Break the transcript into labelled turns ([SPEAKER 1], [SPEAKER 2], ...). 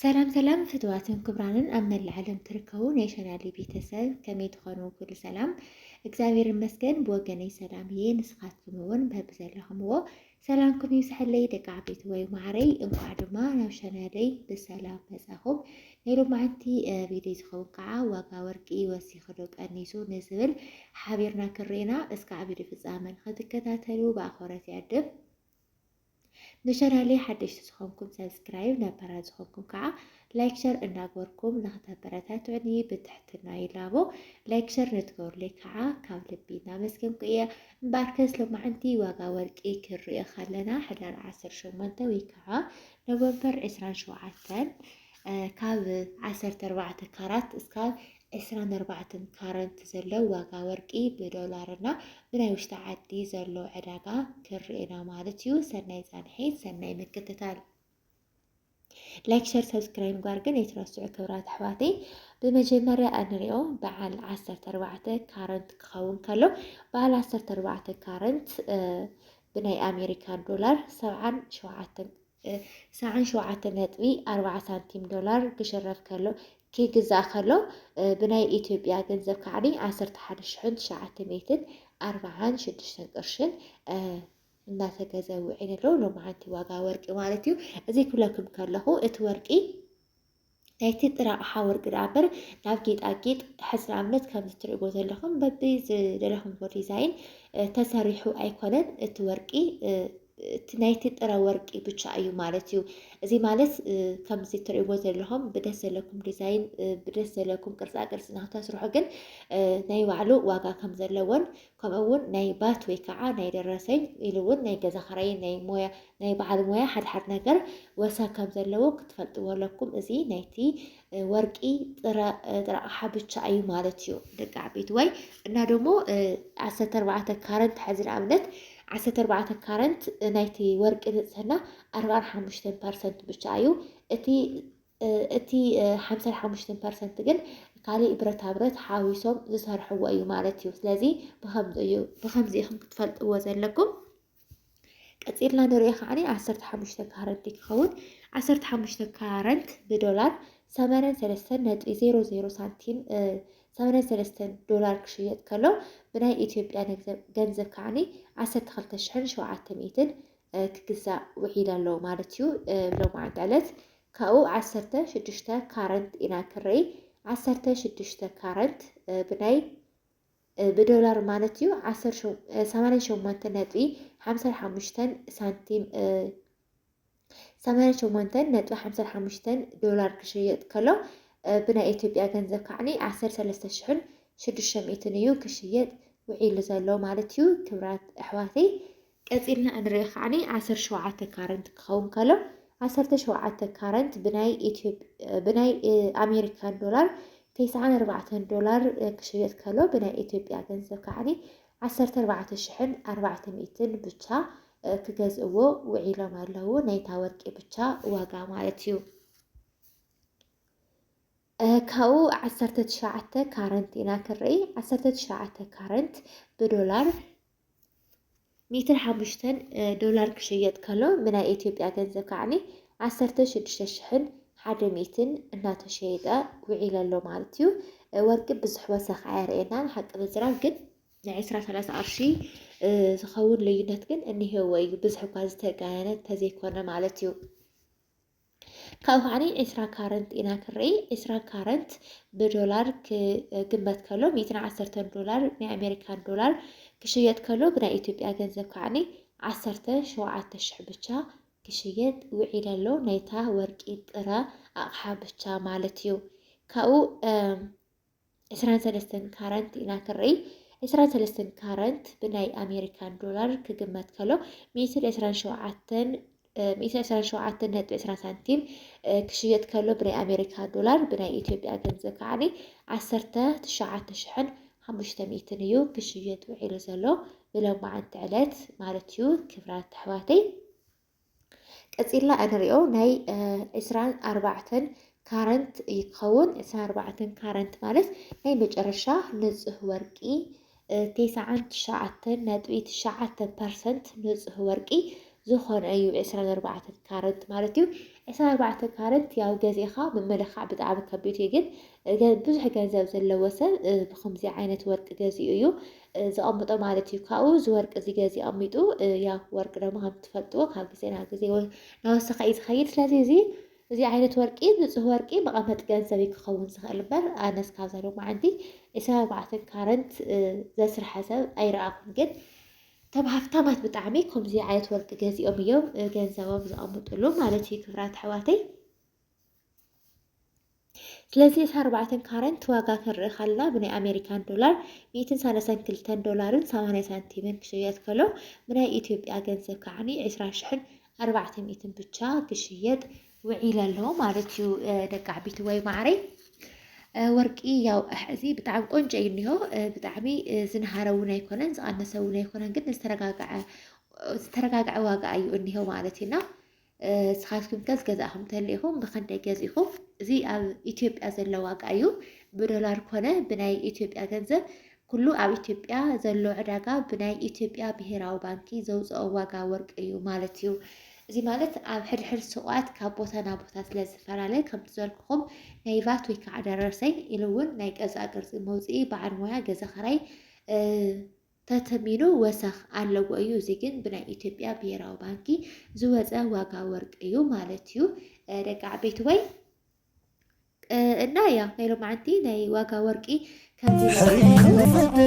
[SPEAKER 1] ሰላም ሰላም ፍትዋትን ክብራንን ኣብ መላእ ዓለም ትርከቡ ናይ ሸናሊ ቤተሰብ ከመይ ትኾኑ? ኩሉ ሰላም እግዚኣብሔር ይመስገን ብወገነይ ሰላም እየ። ንስኻትኩም እውን በብዘለኹምዎ ሰላምኩም ይብዝሐለይ ደቂ ዓበይቲ ወይ ማዕረይ። እንኳዕ ድማ ናብ ሸናለይ ብሰላም መጻኹም። ናይ ሎማዓንቲ ቪድዮ ዝኸውን ከዓ ዋጋ ወርቂ ወሲኹ ዶ ቀኒሱ ንዝብል ሓቢርና ክንርኤና እስካዕ ቪድዮ ፍፃመ ንክትከታተሉ ብኣኽብሮት ይዕድም። ንቻናለይ ሓደሽቲ ዝኾንኩም ሰብስክራይብ ነባራት ዝኾንኩም ከዓ ላይክ ሸር እናግበርኩም ንክተበረታትዑኒ ብትሕትና ይላቦ ላይክ ሸር ንትገብሩለይ ከዓ ካብ ልቢ እናመስገንኩ እየ እምበኣር ከስ ሎማዓንቲ ዋጋ ወርቂ ክንሪኦ ከለና ሕዳር ዓሰርተ ሸሞንተ ወይ ከዓ ኖቨምበር ዕስራን ሸውዓተን ካብ ዓሰርተ ኣርባዕተ ካራት እስካብ ዕስራን ኣርባዕተን ካረንት ዘሎ ዋጋ ወርቂ ብዶላር እና ብናይ ውሽጢ ዓዲ ዘሎ ዕዳጋ ክንርኤና ማለት እዩ። ሰናይ ፃንሒት፣ ሰናይ ምክትታል። ላይክ ሸር ሰብስክራይብ ጓር ግን ኣይትረስዑ ክብራት ኣሕዋተይ። ብመጀመርያ እንሪኦ በዓል ዓሰርተ ኣርባዕተ ካረንት ክኸውን ከሎ በዓል ዓሰርተ ኣርባዕተ ካረንት ብናይ ኣሜሪካን ዶላር ሰብዓን ሸውዓተን ሰዓን ሸውዓተ ነጥቢ ኣርባዓ ሳንቲም ዶላር ክሽረፍ ከሎ ክግዛእ ከሎ ብናይ ኢትዮጵያ ገንዘብ ካዕኒ ዓሰርተ ሓደ ሽሕን ትሽዓተ ሚእትን ኣርባዓን ሽዱሽተን ቅርሽን እናተገዘ ውዒሉ ኣሎ ሎማዓንቲ ዋጋ ወርቂ ማለት እዩ። እዚ ክብለኩም ከለኹ እቲ ወርቂ ናይቲ ጥረ ኣቕሓ ወርቂ ደኣ እምበር ናብ ጌጣጌጥ ሕጽረ ኣብነት ከምዚ ትርእይዎ ዘለኹም በቢ ዝደለኹምዎ ዲዛይን ተሰሪሑ ኣይኮነን እቲ ወርቂ እቲ ናይቲ ጥረ ወርቂ ብቻ እዩ ማለት እዩ። እዚ ማለት ከምዚ ትርእይዎ ዘለኹም ብደስ ዘለኩም ዲዛይን ብደስ ዘለኩም ቅርጻ ቅርጺ ንክተስርሑ ግን ናይ ባዕሉ ዋጋ ከም ዘለዎን ከምኡ ውን ናይ ባት ወይ ካዓ ናይ ደረሰኝ ኢሉ ውን ናይ ገዛ ክራይ ናይ ሞያ ናይ ባዓል ሞያ ሓደ ሓደ ነገር ወሰን ከም ዘለዎ ክትፈልጥዎ ኣለኩም እዚ ናይቲ ወርቂ ጥረ ጥረ ኣቅሓ ብቻ ኣዩ ማለት እዩ ደቂ ዓበይትዋይ እና ደሞ ዓሰርተ ኣርባዕተ ካረንት ሐዚ ንኣብነት ዓሰርተ ኣርባዕተ ካረንት ናይቲ ወርቂ ንጽህና ኣርባዓን ሓሙሽተን ፐርሰንት ብቻ ኣዩ እቲ እቲ ሓምሳን ሓሙሽተን ፐርሰንት ግን ካሊእ ብረታ ብረት ሓዊሶም ዝሰርሕዎ እዩ ማለት እዩ። ስለዚ ብከምዚ እዩ ብከምዚ ኢኹም ክትፈልጥዎ ዘለኩም። ቀፂልና ንሪኦ ከዓኒ ዓሰርተ ሓሙሽተ ካረንት ክኸውን ዓሰርተ ሓሙሽተ ካረንት ብዶላር ሰመነን ሰለስተን ነጥቢ ዜሮ ዜሮ ሳንቲም ሰመነን ሰለስተን ዶላር ክሽየጥ ከሎ ብናይ ኢትዮጵያ ገንዘብ ከዓኒ ዓሰርተ ክልተ ሽሕን ሸውዓተ ሚእትን ክግዛእ ውዒል ኣሎ ማለት እዩ ሎማዕንቲ ዕለት ካብኡ ዓሰርተ ሽዱሽተ ካረንት ኢና ክረይ ዓሰርተ ሽዱሽተ ካረንት ብናይ ብዶላር ማለት እዩ ሰማንያ ሸሞንተ ነጥቢ ሓምሳ ሓሙሽተን ሳንቲም ሰማንያ ሸሞንተን ነጥቢ ሓምሳ ሓሙሽተን ዶላር ክሽየጥ ከሎ ብናይ ኢትዮጵያ ገንዘብ ካዕኒ ዓሰርተ ሰለስተ ሽሕን ሽዱሽተ ሚእትን እዩ ክሽየጥ ውዒሉ ዘሎ ማለት እዩ ክብራት ኣሕዋተይ ቀጺልና እንሪኦ ከኣ ዓሰርተ ሸውዓተ ካረንት ክኸውን ከሎ ዓሰርተ ሸውዓተ ካረንት ብናይ ኣሜሪካን ዶላር ተስዓን ኣርባዕተን ዶላር ክሽየጥ ከሎ ብናይ ኢትዮጵያ ገንዘብ ከዓኒ ዓሰርተ ኣርባዕተ ሽሕን ኣርባዕተ ሚእትን ብቻ ክገዝእዎ ውዒሎም ኣለዉ ናይታ ወርቂ ብቻ ዋጋ ማለት እዩ። ካብኡ ዓሰርተ ትሽዓተ ካረንት ኢና ክንርኢ ዓሰርተ ትሽዓተ ካረንት ብዶላር ሚትር ሓሙሽተን ዶላር ክሽየጥ ከሎ ብናይ ኢትዮጵያ ገንዘብ ከዓኒ ዓሰርተ ሽዱሽተ ሽሕን ሓደ ሚእትን እናተሸየጠ ውዒለ ኣሎ ማለት እዩ። ወርቂ ብዙሕ ወሰኽ ኣየርእየናን ሓቂ ምዝራብ ግን ናይ ዕስራ ሰላሳ ቅርሺ ዝኸውን ልዩነት ግን እኒሄዎ እዩ ብዙሕ እኳ ዝተጋነነ ተዘይኮነ ማለት እዩ። ካብኡ ከዓኒ ዕስራ ካረንት ኢና ክንርኢ ዕስራ ካረንት ብዶላር ክግመት ከሎ ሚእትን ዓሰርተን ዶላር ናይ ኣሜሪካን ዶላር ክሽየጥ ከሎ ብናይ ኢትዮጵያ ገንዘብ ከዓኒ ዓሰርተ ሸውዓተ ሽሕ ብቻ ክሽየጥ ውዒለ ኣሎ ናይታ ወርቂ ጥረ ኣቕሓ ብቻ ማለት እዩ ካብኡ ዕስራን ሰለስተን ካረንት ኢና ክንርኢ። ዕስራን ሰለስተን ካረንት ብናይ ኣሜሪካን ዶላር ክግመት ከሎ ሚእትን ዕስራን ሸውዓተን ሚእትን ዕስራን ሸውዓተን ነጥቢ ዕስራ ሳንቲም ክሽየጥ ከሎ ብናይ ኣሜሪካ ዶላር ብናይ ኢትዮጵያ ገንዘብ ከዓኒ ዓሰርተ ትሽዓተ ሽሕን ሓሙሽተ ሚእትን እዩ ክሽየጥ ውዒሉ ዘሎ ብሎማዓንቲ ዕለት ማለት እዩ። ክብራት ኣሕዋተይ ቀፂልና እንሪኦ ናይ ዕስራን ኣርባዕተን ካረንት ይኸውን። ዕስራን ኣርባዕተን ካረንት ማለት ናይ መጨረሻ ንፁህ ወርቂ ቴስዓን ትሽዓተን ነጥቢ ትሽዓተ ፐርሰንት ንፁህ ወርቂ ዝኾነ እዩ ዕስራን ኣርባዕተን ካረንት ማለት እዩ። ዕስራን ኣርባዕተን ካረንት ያው ገዚእኻ ምምልኻዕ ብጣዕሚ ከቢድ እዩ፣ ግን ብዙሕ ገንዘብ ዘለዎ ሰብ ብከምዚ ዓይነት ወርቂ ገዚኡ እዩ ዘቐምጦ ማለት እዩ። ካብኡ እዚ ወርቂ እዚ ገዚ ኣቐሚጡ ያው ወርቂ ደሞ ከም ትፈልጥዎ ካብ ግዜ ናብ ግዜ ናወሰኸ እዩ ዝኸይድ። ስለዚ እዚ እዚ ዓይነት ወርቂ ንፁህ ወርቂ መቐመጢ ገንዘብ እዩ ክኸውን ዝኽእል እምበር ኣነ እስካብ ዘለው መዓንቲ ዕስራ ኣርባዕተን ካረንት ዘስርሐ ሰብ ኣይረኣኹን። ግን እቶም ሃፍታማት ብጣዕሚ ከምዚ ዓይነት ወርቂ ገዚኦም እዮም ገንዘቦም ዘቐምጥሉ ማለት እዩ ክብራት ኣሕዋተይ። ስለዚ እቲ ኣርባዕተን ካረንት ዋጋ ክንርኢ ካልና ብናይ ኣሜሪካን ዶላር ሚእትን ሳለሳን ክልተን ዶላርን ሰማንያ ሳንቲምን ክሽየጥ ከሎ ብናይ ኢትዮጵያ ገንዘብ ከዓኒ ዕስራ ሽሕን ኣርባዕተ ሚእትን ብቻ ክሽየጥ ውዒል ኣሎ ማለት እዩ ደቂ ዓቢቲ ወይ ማዕረይ ወርቂ ያው ሕዚ ብጣዕሚ ቆንጆ እዩ እኒሆ ብጣዕሚ ዝንሃረ እውን ኣይኮነን ዝቐነሰ እውን ኣይኮነን ግን ዝተረጋግዐ ዝተረጋግዐ ዋጋ እዩ እኒሆ ማለት እዩና ስኻትኩምከስ ገዛእኹም ተሊኢኹም ብኸንደይ ገዚእኹም? እዚ ኣብ ኢትዮጵያ ዘሎ ዋጋ እዩ። ብዶላር ኮነ ብናይ ኢትዮጵያ ገንዘብ ኩሉ ኣብ ኢትዮጵያ ዘሎ ዕዳጋ ብናይ ኢትዮጵያ ብሄራዊ ባንኪ ዘውፅኦ ዋጋ ወርቂ እዩ ማለት እዩ። እዚ ማለት ኣብ ሕድሕድ ስቋት ካብ ቦታ ናብ ቦታ ስለ ዝፈላለ ከም ዝበልኩኹም ናይ ቫት ወይ ከዓ ደረሰኝ ኢሉ እውን ናይ ገዛ ቅርፂ መውፅኢ በዓል ሞያ ገዛ ኸራይ ተተሚኑ ወሰኽ ኣለዎ እዩ እዚ ግን ብናይ ኢትዮጵያ ብሄራዊ ባንኪ ዝወፀ ዋጋ ወርቂ እዩ ማለት እዩ ደቂ ዓበይትወይ እና ያ ናይ ሎማዓንቲ ናይ ዋጋ ወርቂ ከምዚ